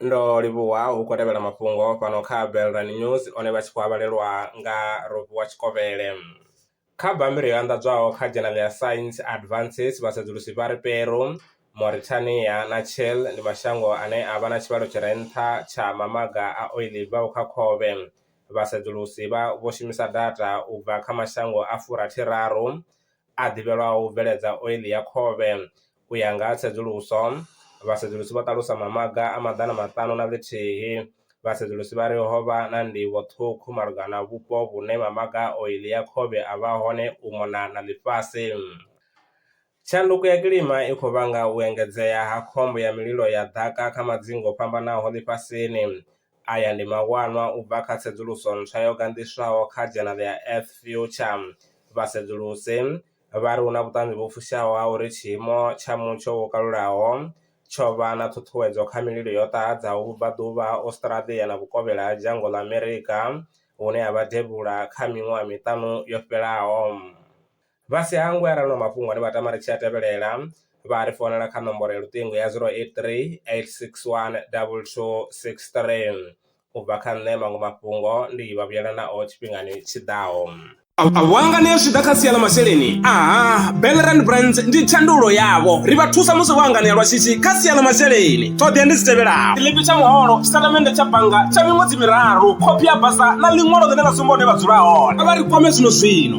ndo livhuwa hu khou tevhela mafhungo fhano kha Belrani News one vha tshi khou avhalelwa nga Ropiwa Tshikovhele. Kha bammbiri yo anḓadzwaho kha Journal ya Science Advances, vhasedzulusi vha ri Peru, Mauritania na Chile ndi mashango ane a vha na tshivhalo tshi re nṱha tsha mamaga a oiḽi i bvaho kha khovhe. Vhasedzulusi vha vho shumisa data u bva kha mashango a furathi raru a ḓivhelwaho u bveledza oiḽi ya khovhe. U ya nga ha tsedzuluso, vhasedzulusi vho ṱalusa mamaga a maḓana maṱanu na ḽithihi. Vhasedzulusi vha ri ho vha na ndivho ṱhukhu malugana na vhupo vhune mamaga a oiḽi ya khovhe a vha hone u mona na ḽifhasi. Tshanduko ya kilima i khou vhanga u engedzea ha khombo ya mililo ya ḓaka kha madzingu o fhambanaho ḽifhasini, Aya ndi mawanwa u bva kha tsedzuluso ntswa yo ganḓiswaho kha dzhenala ya F-Future. Vhasedzulusi vha ri hu na vhuṱanzi vhu fushaho ha uri tshiimo tsha mutsho wo kalulaho tsho vha na ṱhuṱhuwedzo kha mililo yo ṱahadzaho vhubvaḓuvha ha Australia na vhukovhela ha dzhango ḽa Amerika hune ha vha devhula kha miṅwaha miṱanu yo fhelaho. Vha si hangwe arali hu na mafhungo ane vha tama ri tshi a tevhelela vha ri founela kha nomboro ya luṱingo ya 0838612263. U bva kha nṋe maṅwe mafhungo ndi vha vhuyela nao tshifhingani tshi ḓaho. Vhanga ni a zwi ḓa kha sia ḽa masheleni? Aha, Belrand Brands ndi thandululo yavho. Ri vha thusa musi vho hanganea lwa shishi kha sia ḽa masheleni. Ṱhoḓea ndi dzi tevhelaho. Tshiḽipi tsha muholo, tshitatamennde tsha bannga tsha miṅwedzi miraru, khophi ya basa na ḽiṅwalo ḽine ḽa sumba hune vha dzula hone. Vha ri kwame zwino zwino.